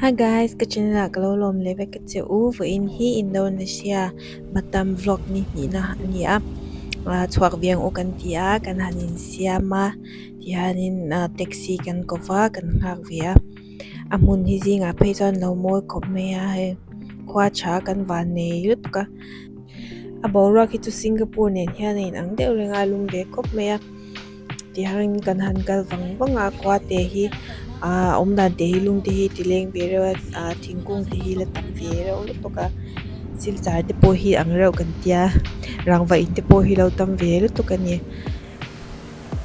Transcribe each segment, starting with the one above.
Hi guys, ka channel ah ka lo lawm leh vek ka che u, vawiin hi Indonesia Batam vlog ni hnihna a ni a, chhuak viang u kan ti a, kan han in siam a, tihianin taxi kan kawp a, kan nghak ve a, a hmun hi zingah phei chuan lo mawi khawp mai a, hei khua tha kan van nei lutuk a. a boruak hi chu singapore nen hian a inang deuh reng a a lum ve khawp mai a tiang reng in kan han kal vang vang a khua te hi ahh awm dan te hi lung te hi ti leng ve reuh a ahh thingkung te hi la tam ve reuh lutuk bawk a silchar te pawh hi ang reuh kan tia rangva in te pawh hi lo tam ve lutuk a ni.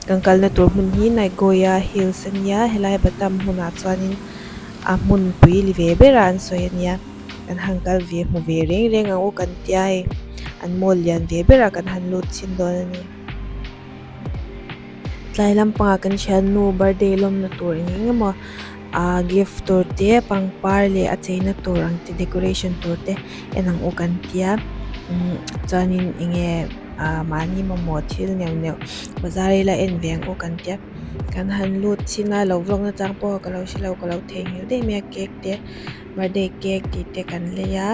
Kan kalna tur hmun hi Nagoya Hills a nia, helai Batam hmunah chuanin a hmun pui li ve bera an sawi a nia, kan han kal ve hmu ve reng reng ang u kan tia hei, an mall lian ve berah kan han lut chhin dawn a ni. Tlai lampangah kan hralnu birthday lawmna tur eng eng emaw. Ahh gift tur te pangpar leh a cheina tur ang te decoration tur te en ang u kan tia umm chuanin eng nge ahh mahni mamawh thil neuh neuh bazar i la en ve ang u kan tia kan han lut chin a lo vlog na chang pawh ka lo hre lo ka lo thei nghil daih mai a cake te birthday cake tih te kan lei a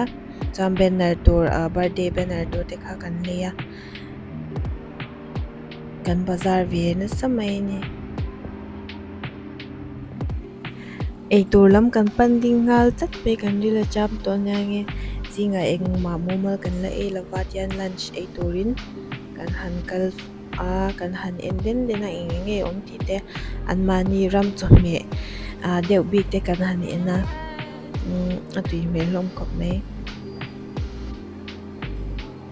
chuan banner tur ahh birthday banner tur te kha kan lei a. Kan bazar ve nasa mai a ni. Eitur lam kan pan ding nghal chat mai kan ril a cham tawh ania nge zingah engmah mumal kan la ei lova tian lunch ei turin kan han kal a kan han en den den a eng enge awm tih te an mahni ram chawhmeh ah deuh bik te kan han en a umm a tui hmel hlawm khawp mai.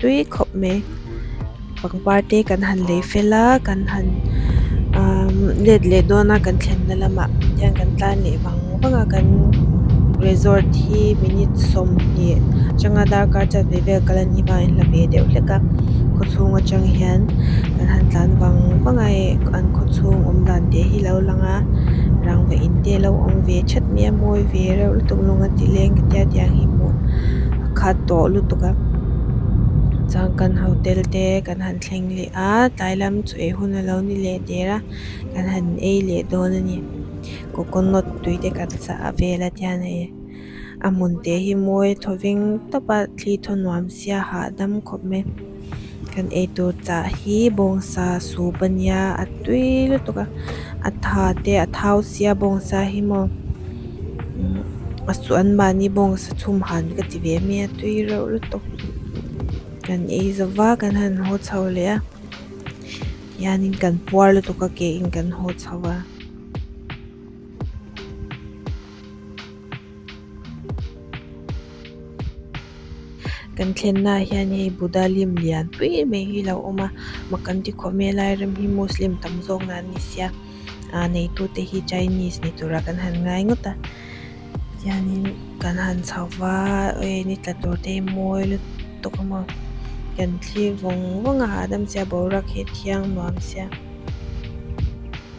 tui khawp mai pangpar te kan han lei fel a kan han aaa let leh dawn a kan thlenna lamah hian kan tlan leh vang vang a kan resort hi minute sawmhnih atanga darkar chhuak ve vel kal an ni vang in hla ve deuh hlek a khaw chhung atang hian kan han tlan vang vang a hei an khaw chhung awm dan teh hi lo lang a rangva in te lo awm ve thet mai a mawi ve reuh lutuk lunga tileng ka tia tiang hi hmuh-- kha tawh lutuk a chuan kan hotel te kan han thleng leh a tlai lam chu ei hun a lo ni leh der a kan han ei leh dawn a ni coconut tui te kan chah a vel a tian hei a hmun te hi mawi thaw veng tawp a thli thaw nuam sia hahdam khawp mai. Kan eitur chah hi bawngsa sup a nia a tui lutuk a a tha te a thau sia bawngsa hi maw umm a suh an mahni bawngsa chhum han ka ti ve mai a tui reuh lutuk kan ei zova kan han haw chho leh a tihianin kan puar lutuk a ke in kan haw chho a. Kan thlennaah hian hei Buddha lim lian pui mai hi lo awm a, mah kan ti khawh mai a lai ram hi Muslim tam zawk na an ni sia, aa neitu te hi Chinese ni tura kan han ngai ngawt a, tihianin kan han chho va, hei ni tla tur te hi mawi lut tawk a maw, kan thlir vawng vawng a hahdam sia boruak hi a thiang nuam sia.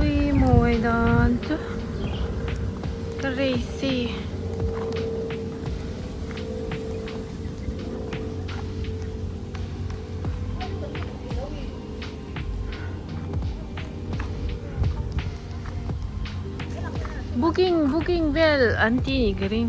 Ui mawi dan chu ka rei si. Booking booking vel an ti nih ka ring.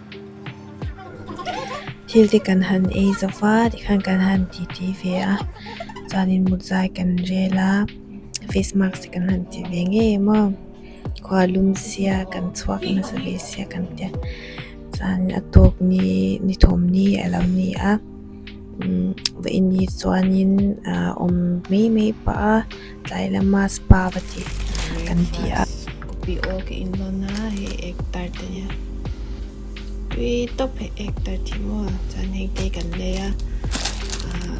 Thil te kan han ei zo va ti khan kan han ti ti ve a, chuanin mutzai kan rel a, face mask te kan han ti ve ngei maw, khua lum sia kan chhuak nasa ve sia kan tia, chuan a tawk ni ni thawm ni a lo ni a. va in hi chuanin ahh awm mai mai pah a tlai lama spa va ti kan ti a. Kopi awl ka in lawn a hei actor te nia tui tawp hei actor tih maw chuan hengte kan lei a ahh.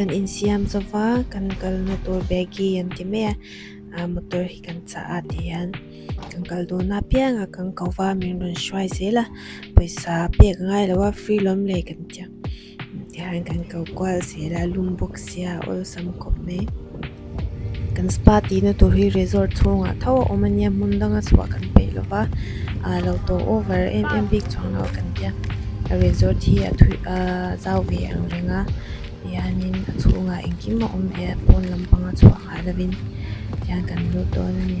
kan insiam zo va kan kalna tur begi an ti mai a motor hi kan chah a tih hian kan kal dun a piang ah kan ko va min rawn hruai zel a pawisa pek ngai lo a free lawm leh kan ti ang. Tichuan kan ko kual si la lum bawk sia awlsam khawp mai kan spa tihna tur hi resort chhungah tho a awm ania hmun danga chhuah kan peih lova aa lo tawh over em em bik chuang lo a kan tia a resort hi a thui aaa zau ve angreng a tihianin a chhungah engkim a awm ve a pawn lampanga chhuah-- Khah lovin tihian kan lut dawn a ni.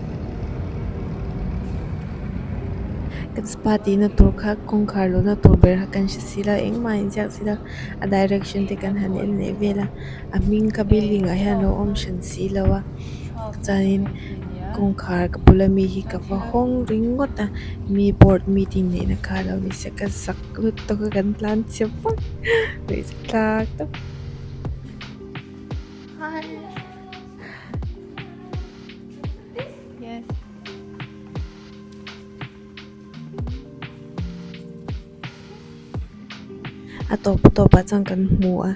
Kan spa tihna tur kha kawngkhar luhna tur ber kha kan hre si la engmah a inziak si la a direction te kan han en leh vela a hming kha building ah hian lo awm hran si lo a chuanin kawngkhar ka bula mi hi ka va hawng ringawt a mi board meeting neihna kha lo ni se ka zak lut tawk a kan tlan chhiah vak luih za tlat a. a tawp tawp ah chuan kan hmu a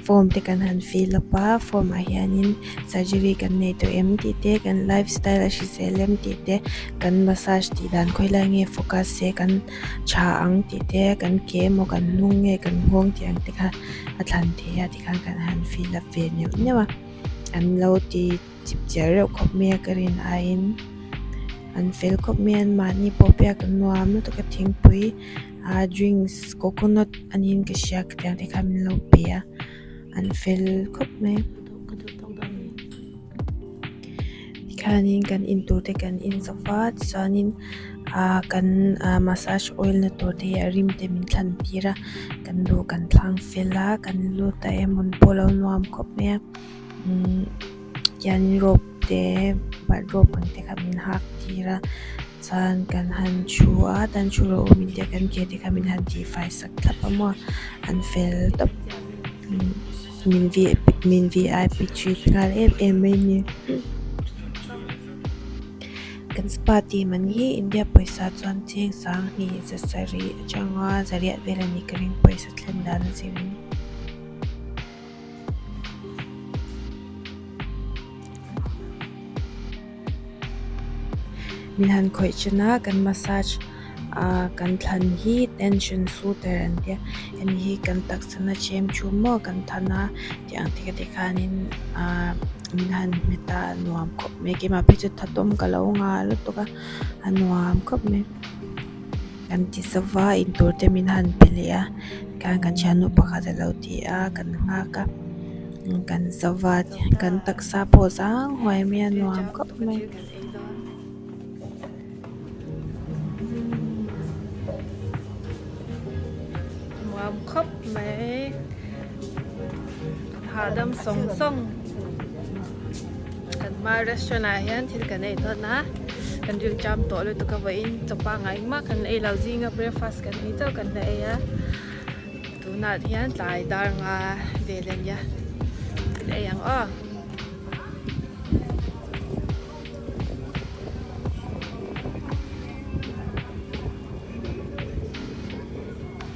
form te kan han fill up a form ah hian in surgery kan nei tawh em tih te kan life style a hrisel em tih te kan massage tih dan khawi lai nge focus se kan tha ang tih te kan ke emaw kan hnung nge kan nghawng tih ang te kha a thlan thei a. Khar kan han fill up ve neuh neuh a, an lo ti chip chiah reuh khawp mai a ka rin aiin an fel khawp mai a, anmahni pawh pia ka nuam lutuk tak a thingpui aa drinks coconut anih ka hria ka tiang te khan min lo pe a, an fel khawp mai. Tikhianin kan in tur te kan in zah va tichuanin ah kan ah massage oil na tur te hi a rim te min thlan tir a kan luh kan thlang fel a kan lut a em awm pawh alo nuam khawp mai a umm tihianin rope te bike rope ang te kha min hak tir a chuan kan han thu a chuan thu loh awm in te kan ke te kha min han tihfai sak thlap a maw an fel tawp umm. Min vi min vi ai pi trit nghal em em mai ni. Kan spa team an hi India pawisa chuan cheng sang hni za sarih atanga zariah vel a nih ka ring pawisa thlen dan zir in. Mi han khawih chin a kan massage ahh kan thlan hi tension soother an tia hemi hi kan taksa na chem thu maw kan than a tih ang tih ka tih khan in ahh min han hme ta a nuam khawp mai kima phi chu thatawm ka lo nga lutuk a a nuam khawp mai. Kan ti zova in tur te min han pe leh a tah hian kan thiannu pakhat a lo ti a kan nghak a kan zova kan taksa pawh zang huai mai a nuam khawp mai. Kan hma restaurant ah hian thil kan ei dawn a, kan rilṭam tawh lutuk a vawiin chaw panga engmah kan ei lo zing a, breakfast kan ni chauh kan la ei a. Tunah hian tlai dar nga vel a nia, thil ei ang aw.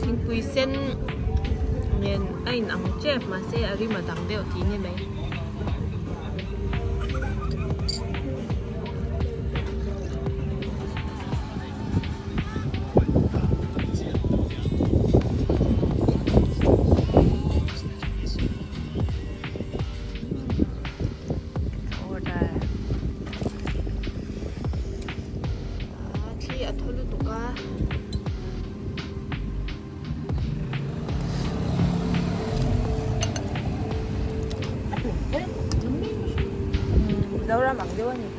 thingpui sen nen a in ang chiah a mahse a rim a dang deuh tih ni mai. order ah thi a thaw lutuk a zoram ang deuh a ni.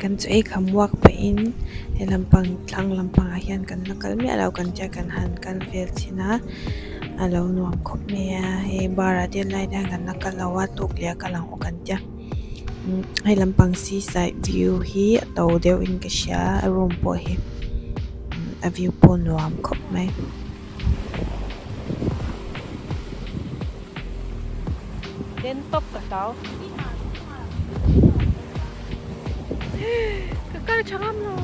kan chu aikham uak pah in he lam pang tlang lam pang ah hian kan la kal miah lo kan tia kan han kal vel chin a a lo nuam khawp mai a he bar ah del lai hian kan la kal lo a tuk leh a kal ang awk kan tia umm he lam pang si side view hi a to deuh in ka hria a room pawh hi a view pawh nuam khawp mai. Ka kal tha ngam lo.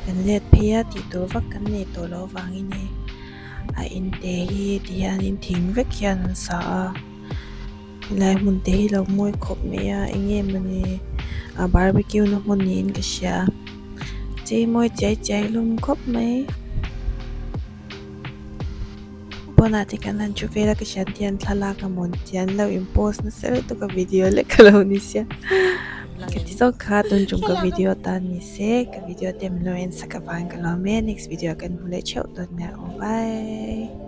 Kan let phei a tih tur vak kan nei tawh loh avangin hei a inte hi tihianin thing vek hian an sa a. helai hmun te hi lo ngawi khawp mai a eng nge mawni a barbeque na hmun niin ka hria che mawi chiai chiai hlawm khawp mai pawnah te kan han thu vel a ka hria te hian thlalak a mawn tia an lo in post nasa lutuk tak a video lek ka lo ni sia ka ti zawk kha tun chung ka video atan ni se ka video te min lo en sak avang ka lawm e next video ah kan hmu leh theuh dawn nia aw bye